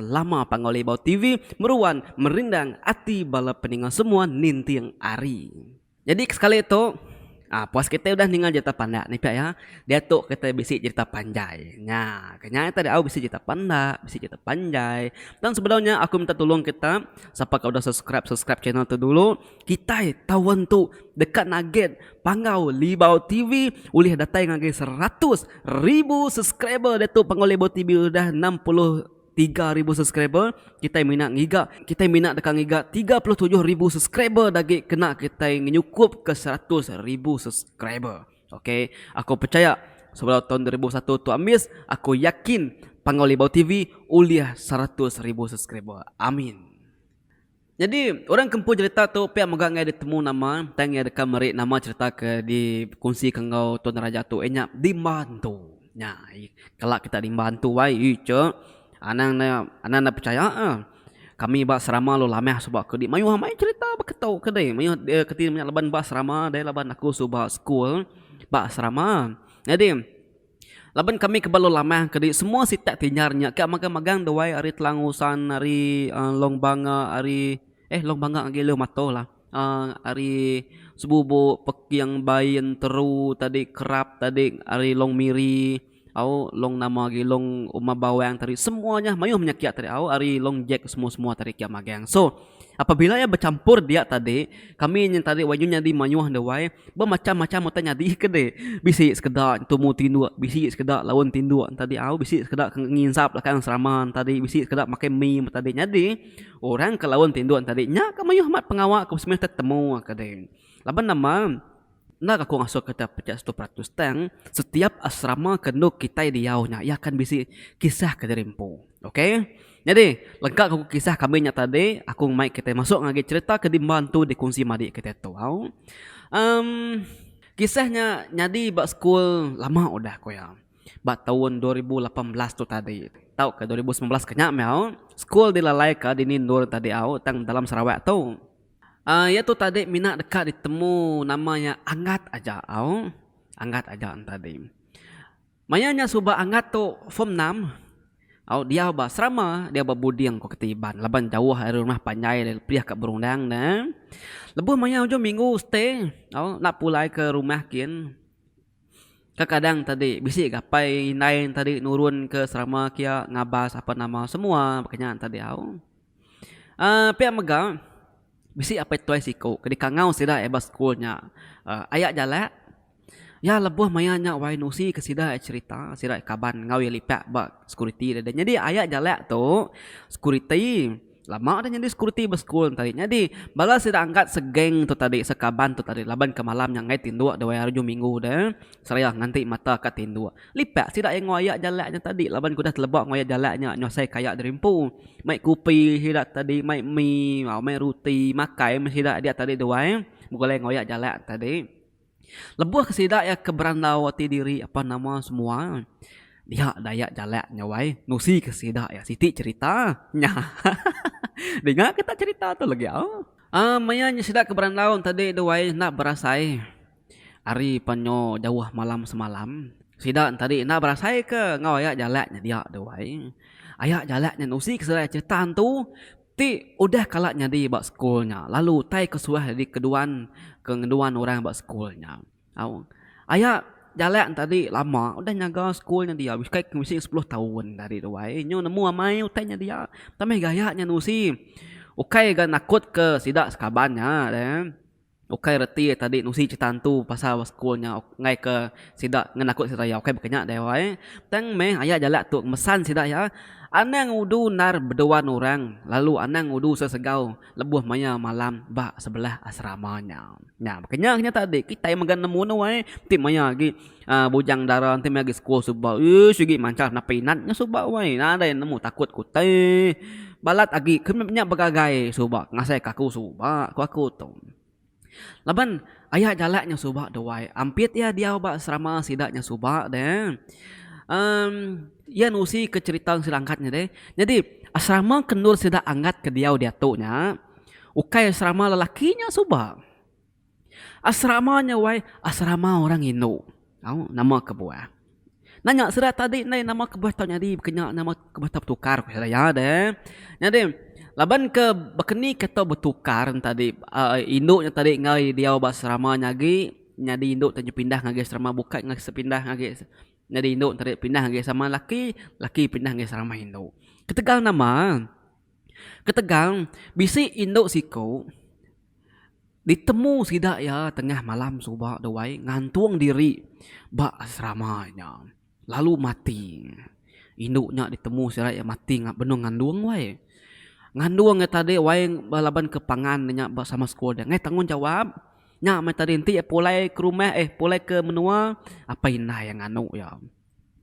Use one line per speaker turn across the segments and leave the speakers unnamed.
Lama panggau libau TV meruan merindang ati bala peninga semua ninting ari. Jadi ke sekali tu ah puas kitai udah ninga jerita pandak ni pia iya. Diatu kitai bisi jerita panjai. Nya ke nya ita diau bisi jerita pandak, bisi jerita panjai. Tang sebedau nya aku minta tulung kita sapa ke udah subscribe, subscribe channel tu dulu. Kitai tau entu deka naget panggau libau TV ulih datai ngagai seratus ribu subscriber diatu panggau libau TV udah enam puluh tiga ribu subscriber kitai mina ngiga kitai mina deka ngiga tiga puluh tujuh ribu subscriber dagi kena kitai ngenyukup ke seratus ribu subscriber ok aku pechaya sebedau taun dua ribu satu tu ambis aku yakin panggau libau TV ulih seratus ribu subscriber amin. Nyadi, orang ke empu jerita tu pia mega enggai ditemu nama tang iya deka meri nama jerita ke dikongsika enggau tuan raja tu iya nya Dimba Antu. Nya ai kala kita Dimba Antu ai icha anang ne anang ne pechaya a kami ba serama lalu lamah suba ke di mayuh amai jerita baka tu ke dei mayuh keti nya laban ba serama dei laban aku suba school ba serama. Nyadi. Laban kami ke bala lamah kadi semua sitak ti nyar nya ka magang magang duai ari telang usan ari long banga ari eh long banga agi long matoh lah uhh ari sebubuk peking bai enteru tadi kerap tadi ari long miri au long nama agi long uma bawang tadi semua nya maioh menyekit tadi au ari long jack semua semua tadi kiak magang so. Apabila iya bechampur dia tadi, kami nya tadi wayah nya nyadi mayuh enda wai, bemacham-macham utai nyadi ke deh. Bisi sekeda tumu tinduk, bisi sekeda laun tinduk tadi au, bisi sekeda ke nginsap lakai orang serama tadi, bisi sekeda makai mi meh tadi. Nyadi, orang ke laun tinduk tadi nya ke mayuh amat pengawa ke semina tetemu ke deh. Laban nama? Enda aku ngasuh ke enda pejat setu peratus tang setiap asrama ke endo kitai diau nya iya akan bisi kisah ke diri empu ok nyadi lengka ku kisah kami nya tadi aku mai kitai masuk ngagai cerita ke diemban tu dikunsi madi kitai tau emm kisah nya nyadi ba school lama udah ku iya ba taun dua ribu lapan belas tu tadi tau ka dua ribu sembilan belas ke nya meh au school dilalai ka dini endur tadi au tang dalam sarawak tu. Iya tu tadi mina deka ditemu nama iya Angat aja au. Angat aja enti tadi. Maya nya suba Angat tu form enam au diau ba serama diau ba buding ku kata Iban laban jauh ari rumah panjai dia perih ka Berundang ne. Lebuh maya ujung minggu stay au enda pulai ke rumah kin. Kekadang tadi bisi gapai indai ne tadi nurun ke serama kia ngabas apa nama semua ba kinya tadi au. Aaa pia mega bisi apai tuai siku ke dikangau sida ai ba school nya aaa aya jalak iya lebuh maya nya wai nusi ke sida ai cherita sida ai kaban enggau iya lipak ba security deh deh nyadi aya jalak tu security lama dah nyadi security ba school enta ai nyadi bala sida angkat se gang tu tadi se kaban tu tadi laban ke malam nya ngai tinduk dawai hari ujung minggu deh seraya nganti mata ka tinduk. Lipat sida iya ngoyak jalak nya tadi laban ku udah teleba ngoyak jalak nya nyosai kaya diri empu. Mai kupi sida tadi mai mi au mai ruti makai meh sida diak tadi duai begulai ngoyak jalak tadi. Lebuh ke sida iya ke berandau ati diri apan nama semua dia dayak jalak nya wai nusi ke sida iya siti cerita nya hahaha dinga kita cerita tu legi au. Aaa maya nya sida ke berandau tadi duai enda berasai. Ari panyo jauh malam semalam, sida entadi enda berasaika enggau aya jalak nya dia tu ai. Aya jalak nya nusi ke serai cherita entu ti udah kala nyadi ba sekul nya lalu utai ke suah agi keduan ke ngeduan orang ba sekul nya. Au aya jalak entadi lama udah nyaga sekul nya dia bukai ke bisi sepuluh taun tadi tu ai. Nyu nemu amai utai nya dia tambah gaya nya nusi ukai ga nakutka sida sekaban nya re. Ukai reti iya tadi nusi cerita antu pasal ba sekul nya enggai ke sida ngenakut sida iya ukai bakanya deh wai tang meh aya jalak tu mesan sida iya anang udu endar beduan orang lalu anang udu sesegau lebuh maya malam ba sebelah asrama nya. Nya bakanya kitai mega nemu ne wai ti maya agi. Aa bujang dara enti meh agi sekul suba uii sigi manchar napi inat nya suba wai nadai nemu takut ku teh balat agi ke nya begagai suba ngasai ke aku suba ku aku tu laban aya jalak nya suba tu wai ampit iya diau ba serama sida nya suba deh um iya nusi ke cherita sida angkat nya deh jadi asrama ke endur sida angkat ke diau diatu nya ukai asrama lelaki nya suba. Asrama nya wai asrama orang indu tau nama kebuah. Nanya sida tadi ndai nama kebuah tau nyadi baka nya nama kebuah tau betukar ku sida iya deh. Nyadi laban ke baka ni ke tau betukar ne tadi aaa indu nya tadi enggai diau ba asrama nya agi nyadi indu tau pindah ngagai asrama bukai ngah sepindah ngagai nyadi indu tadi pindah ngagai asrama laki, laki pindah ngagai asrama indu. Ketegal nama. Ketegal, bisi indu siku ditemu sida iya tengah malam suba tu ai ngantung diri ba asrama nya lalu mati. Indu nya ditemu sida iya mati benung ngandung wai. Ngandung iya tadi wai laban ke pangan inya ba sama sekul dia ngaih tanggungjawap nya meh tadi enti iya pulai ke rumah eh pulai ke menua apai indai iya nganu iya.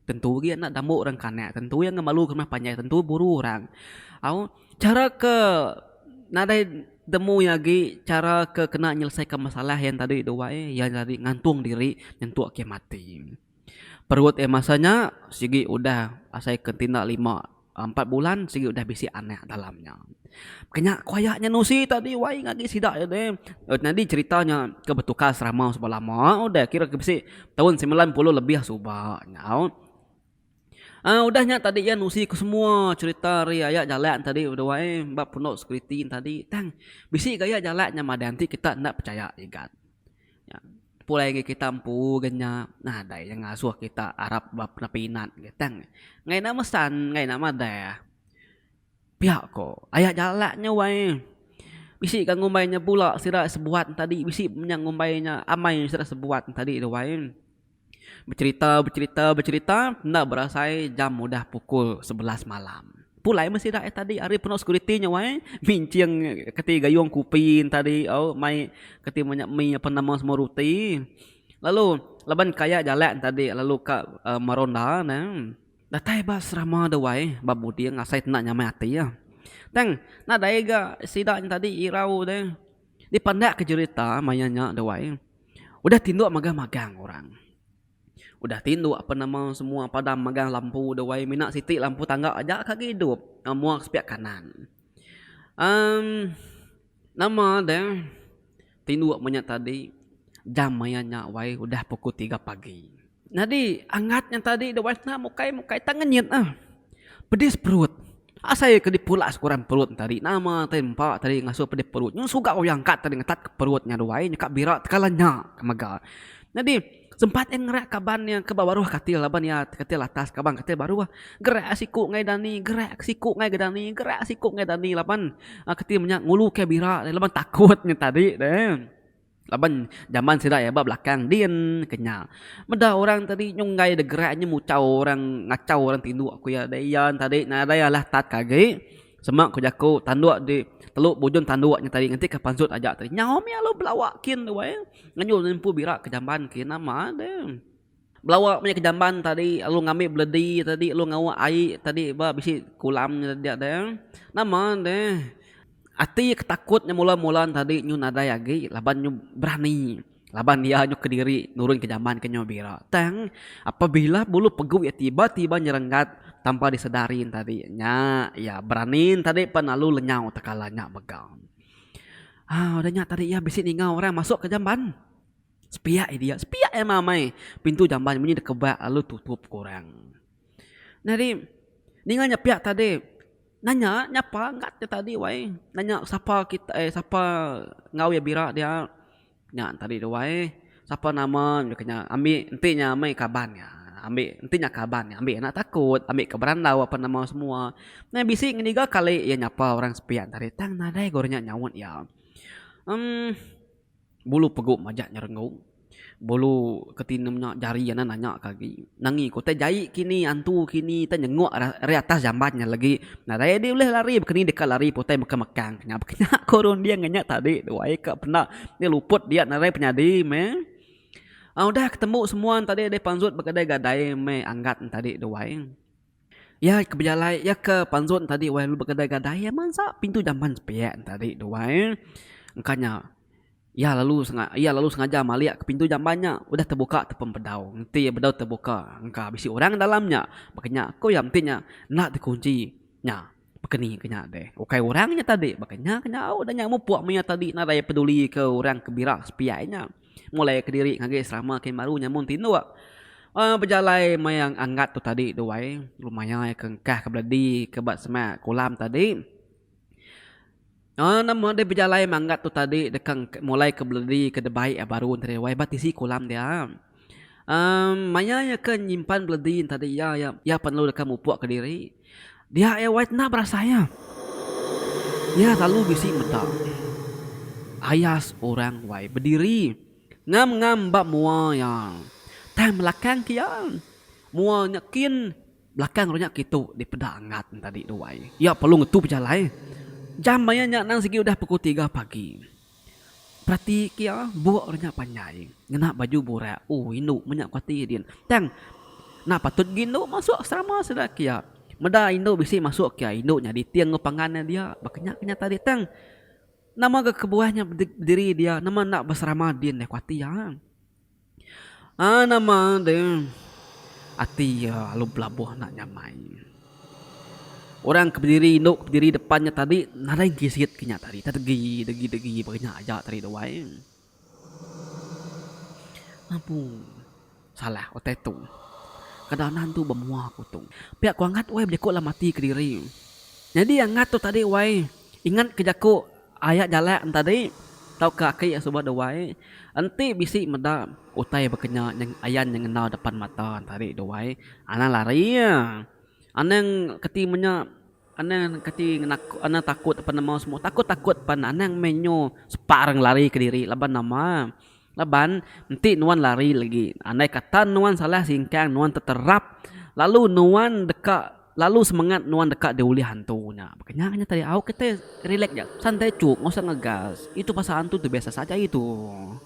Tentu agi anak dambuk orang kanak tentu iya ngemalu ke rumah panjai tentu buru orang. Au chara ke nadai temu iya agi chara ke kena nyelesaikan masalah yang tadi tu ba eh iya nyadi ngantung diri nyentuk agi mati. Perut eh masa nya sigi udah asai ke tinda lima. Empat bulan sigi udah bisi anak dalam nya. Kenya ku aya nya nusi tadi wai ngagi sida nya deh. Nyadi cerita nya ke betukar serama suba lama udah kira ke bisi taun semilan puluh lebih suba nyau. Aaa udah nya tadi iya nusi ku semua cerita ari aya jalak tadi bedua eh ba pondok security tadi tang bisi gaya jalak nya madah enti kita enda pechaya igat. Nya pulai ngagai kita empu ga nya nadai iya ngasuh kita arap ba peminat ga tang ngagai enda mesan ngagai enda madah pia ko aya jalak nya wai bisi ga ngumbai nya bula sida sebuat tadi bisi nya ngumbai nya amai sida sebuat tadi tu wai. Becerita, becerita, becerita enda berasai jam udah pukul sebelas malam. Pulai meh sida ai tadi ari penu sekuriti nya wai minching keti gayung kupi tadi au mai keti manya mi apan nama semua ruti lalu laban ka iya jalak tadi lalu ka meronda ne datai ba serama dau wai ba buding asai tenda nyamai ati iya tang nadai ga sida nya tadi irau deh. Dipandak ke jerita maya nya duai udah tinduk magah magang orang. Udah tinduk apa nama semua padam magang lampu duai mina siti lampu tangga aja ka agi idup muak sepiak kanan. Em nama deh tinduk manya tadi jam maya nya wai udah pukul tiga pagi. Nyadi angat nya tadi da wife ne mukai mukai tak ngenyit ah. Pedis perut. Asai ke dipulak sekurang perut ne tadi. Nama tadi empa tadi ngasuh pedis perut. Nyun suga uya angkat tadi ngetat ke perut nya duai nya ka bira tekala nya ke mega. Nyadi sempat iya ngerak kaban iya ke ba baruh katil laban iya katil atas kaban katil baruh. Gerak siku ngai dani gerak siku ngai ga dani gerak siku ngai dani laban katil menya ngulu kai bira laban takut nya tadi deh. Laban jaman sida iya ba belakang din ke nya. Meda orang tadi nyung enggai deh gerak nyung muchau orang ngachau orang tinduk ku iya deh iya tadi nadai alah tat ke agi sema ku jaku tanduk di telu bujung tanduk nya tadi nganti ke pansut aja tadi nyau mih alu belawa kin tu ai ngenyau lempu bira ke jamban ke nama deh. Belawa meh ke jamban tadi lalu ngambi beledi tadi lalu ngawa ai tadi ba bisi kulam nya dia deh nama deh ati ke takut nya mula mula ne tadi nyu nadai agi laban nyu berani laban iya nyu kediri nurun ke jamban ke nyu bira tang apabila bulu pegu iya tiba tiba nyerenggat tanpa disedari ne tadi nya iya berani ne tadi pan lalu lenyau tekala nya mega au udah nya tadi iya bisi ninga orang masuk ke jamban. Sepiak aja dia, sepiak aja mamai. Pintu jamban munyi dikebak lalu tutup ku orang. Nah ri, ninga nya piak tadi, nanya nyapa ngat ke tadi wai. Nanya sapa kita eh sapa enggau iya bira dia. Nya tadi tu wai, sapa nama nya ke nya. Ambi enti nya mei kaban nya, ambi enti nya kaban nya ambi anak takut, ambi ke berandau apan nama semua. Nah bisi ngeniga kali iya nyapa orang sepiak tadi tang nadai ku orang nya nyaut iya. Em. Bulu pegu majak nyerenggong. Bulu ke tinem nya jari ya enda nanya ke agi. Nangi ku utai jai ke ini antu ke ini utai nyenguk ari atas jamban nya legi. Nadai adi ulih lari baka ni deka lari pun utai mekang mekang ke nya. Baka nya ku runding nya tadi duai ka penda nya luput dia nadai penyadi meh. Udah ketembu semua tadi deh panjut begadai gadai meh anggat tadi duai. Iya ke bejalai, iya ke panzut tadi wai lalu begadai-gadai iya mansa pintu jamban sepiak tadi tu wai. Engka nya iya lalu senga iya lalu sengaja malik ke pintu jamban nya udah tebuka tepung bedau. Enti bedau tebuka engka bisi orang dalam nya. Baka nya ku iya enti nya enda dikunchi nya. Baka ni ke nya deh, ukai orang nya tadi, baka nya ke nyau deh nya mupuk maya tadi nadai pedulika orang ke bira sepiak nya. Mulaika diri ngagai selama kin baru nya mun tinduk uhh bejalai maya anggat tu tadi tu ai, lu mayaika engkah ke beledi ke ba semak kolam tadi. Nama udah bejalai manggat tu tadi deka mulai ke beledi ke debai a baru enti debai ba tisi kolam dia. Em maya iya ke nyimpan beledi enti tadi iya iya iya perlu deka mupuk ke diri dia iya wai tena berasai iya. Iya selalu bisi meda ayas orang wai bediri ngam ngam ba mua iya. Tang belakang ke iya mua nya kin. Belakang renya kitu dipeda Angat nya tadi duai. Iya perlu ngetu pejalai. Jam maya nya anang sigi udah pukul tiga pagi. Perati kia buk renya panjai ngena baju burak. Ooh indu meh nya ku ati din. Tang enda patut agi indu masuk asrama sida kia. Meda indu bisi masuk kia indu nyadi ti enggau pangan ne dia. Baka nya ke nya tadi tang. Nama ga kebuah nya bediri dia nama enda beserama din deh ku ati iya. Aa nama de ati iya lalu belabuh enda nyamai. Orang ke bediri indu ke bediri depan nya tadi nadai gisit ke nya tadi tau degi degi degi baka nya aja tadi tu ai. Abu salah utai tu. Kada anan tu ba mua aku tu. Pia ku angat weh bejaku dalam ati kediri. Nyadi angat tu tadi weh ingat ke jaku. Aya jalak entadi tauka aki iya suba duai enti bisi meda utai bekenya ayan nya ngena depan mata entadi duai anang lari iya anang keti menya anang keti anang takut penemu semua takut takut pan anang meh nyu sepa orang lari kediri laban nama. Laban, enti nuan lari lagi, andaika tan nuan salah singkang nuan teterap lalu nuan deka lalu semengat nuan deka diulih hantu nya. Baka nya kenyata dia. Au kitai relax aja. Santai chuk. Enggau usah ngegas. Itu pasal hantu tu biasa saja itu.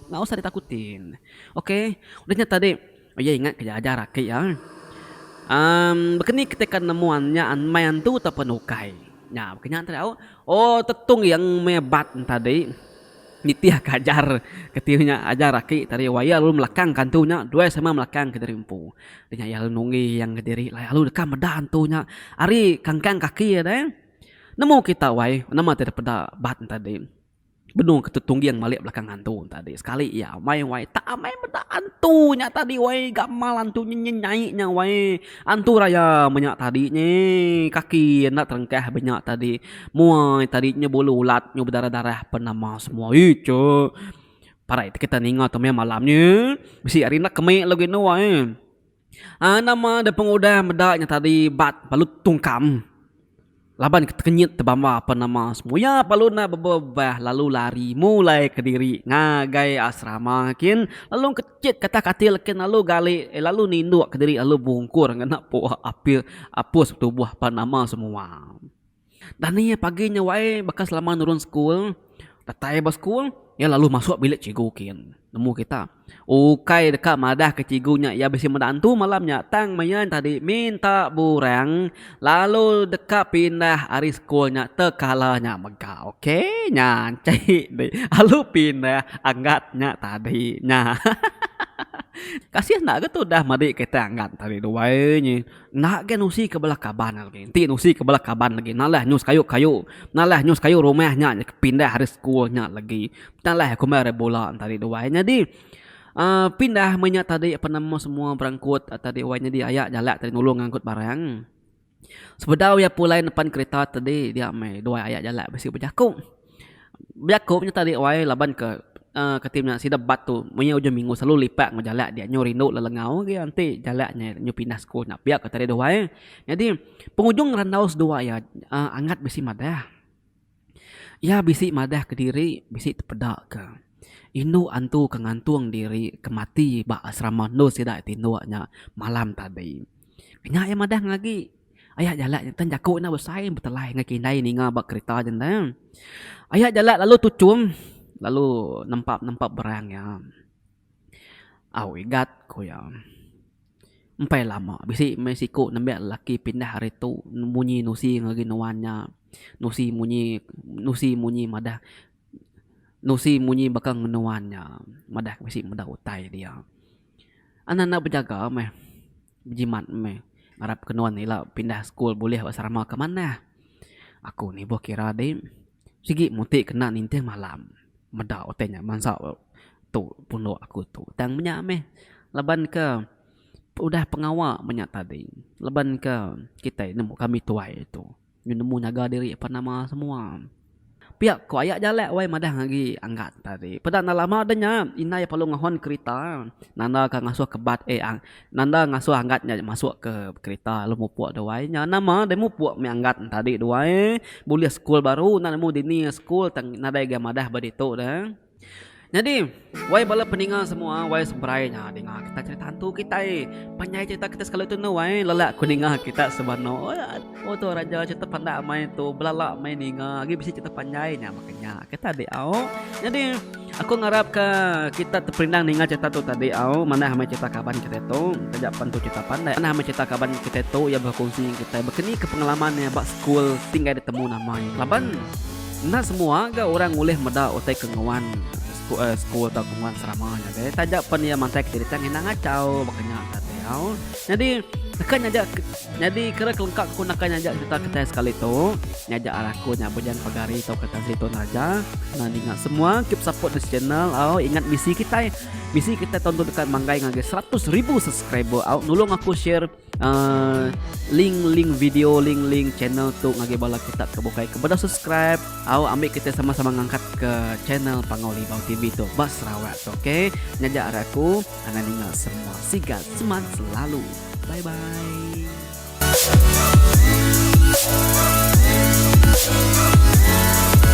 Enggau usah ditakutin. Okay. Udah nya tadi. Iya ingat keja ajar aki iya. Emm bekeni ketika nemu nya meh antu atau pun ukai. Nya baka nya tadi au. Oh tetung iya meh bat tadi nitih ka ajar keti nya ajar aki tadi wak iya lalu melakang ka antu nya duai sama melakang kediri empu. Nya iya lalu nungi yang kediri lalu deka meda antu nya ari kangkang kaki iya deh. Nemu kita wai nama ti dipeda bat tadi. Benung ke Tetungging malik belakang antu tadi. Sekali iya amai wai tak amai meda antu nya tadi wai gamal antu nya nyenyai nya wai. Antu raya meh nya tadi nyi kaki enda terengkah be nya tadi. Muai tadi nya bulu ulat nya bedarah-darah pen nama semua. Ichoo. Parai kita ninga tu meh malam nyi bisi ari enda kemik lagu indu ai. Aa nama deh pengudah meda nya tadi bat balut tungkam laban ke tekenyit tebamba apan nama semua iya lalu enda bebebah lalu lari mulai kediri ngagai asrama kin lalu kecit ketah katil kin lalu gali lalu ninduk kediri lalu bungkur ngena puak apil apus tubuh apan nama semua. Dani pagi nya wai baka selama nurun sekul datai ba sekul iya lalu masuk bilik cikgu kin nemu kita ukai deka madah ke cikgu nya iya bisi meda antu malam nya tang mein tadi minta burang lalu deka pindah ari sekul nya te kala nya mega ok nya ancai di lalu pindah anggat nya tadi nya hahaha kasih enda ke tudah madi kita anggat tadi duai nyi. Enda agi nusi ke bala kaban agi. Enti nusi ke bala kaban agi nalah nyus kayu kayu. Nalah nyus kayu rumah nya ke pindah ari school nya lagi. Talah aku meh ari bula tadi tu wai. Nyadi uhh pindah meh nya tadi penemu semua berengkut tadi wai nyadi aya jalak tadi nulung ngangkut barang. Sebedau iya pulai nepan kereta tadi dia meh duai aya jalak bisi bejaku. Bejaku nya tadi wai laban ke kati menya sida bat tu maya ujung minggu selalu lipat enggau jalak dia nyu rindu lelengau agi enti jalak nya nyu pindah school nya pia ko tadi duai nyadi pengujung randau seduai iya angat bisi madah iya bisi madah kediri bisi tepeda ke indu antu ke ngantung diri ke mati ba asrama endur sida ti indu nya malam tadi nya iya madah agi. Aya jalak jantan jaku enda besai betelai enggau kindai ninga ba kerita jantan. Aya jalak lalu tuchum lalu nempa nempa berang iya. Au igat ku iya. Empai lama bisi meh siku nembe lelaki pindah ari tu munyi nusi ngagai nuan nya. Nusi munyi nusi munyi madah nusi munyi baka enggau nuan nya madah bisi meda utai dia. Anak enda bejaga meh. Bejimat meh. Ngarap ke nuan ila pindah school bulih ba serama ke manah. Aku ni boh kira di sigi muti kena nintih malam. Meda utai nya bansa tu pundok aku tu. Tang menya meh laban ke udah pengawa menya tadi. Laban ke kitai nemu kami tuai tu. Nyu nemu nyaga diri apan nama semua. Pia ko aya jalak wai madah agi anggat tadi. Peda enda lama deh nya indai perlu ngehon kerita nanda ka ngasuh ke bat eh nanda ngasuh anggat nya masuk ke kerita lalu mupuk deh wai nya nama deh mupuk meh anggat tadi duai bulih school baru enda nemu dini school tang nadai ga madah ba ditu deh. Nyadi, wai bala peninga semua wai seberai nya dinga kita cerita hantu kitai. Panjai cerita kita sekali tu enda wai lelak ku ninga kita sebano. Oh tu raja cerita panda meh tu belala meh ninga agi bisi cerita panjai nya baka nya ke tadi au. Nyadi aku ngarap ka kita teperinang ninga cerita tu tadi au manah meh cerita kaban kitai tu taja pen tu cerita pandai. Manah meh cerita kaban kitai tu iya berkongsi ngan kitai baka ni ke pengalaman iya ba skul ti enggai ditemu nama iya. Laban. Enda semua ga orang ulih meda utai ke nguan school tau ke nguan serama nya deh. Taja pen iya mantai ke jerita ngena ngachau baka nya ka ti au. Nyadi naka nyaja nyadi kera kelengka aku naka nyaja jerita kitai sekali tu nyaja ari aku nya Bujang Pagari tau ke Tan Sri Tun Raja. Senang dinga semua keep support this channel au. Ingat misi kitai, misi kitai taun tu deka manggai ngagai seratus ribu subscriber au. Nulung aku share Aaa link link video link link channel tu ngagai bala kita ke bukai ke beda subscribe au ambi kita sama-sama ngangkat ke channel Pangau Libau TV tu ba Sarawak tu okey nyaja ari aku anang ninga semua sigat seman selalu bye bye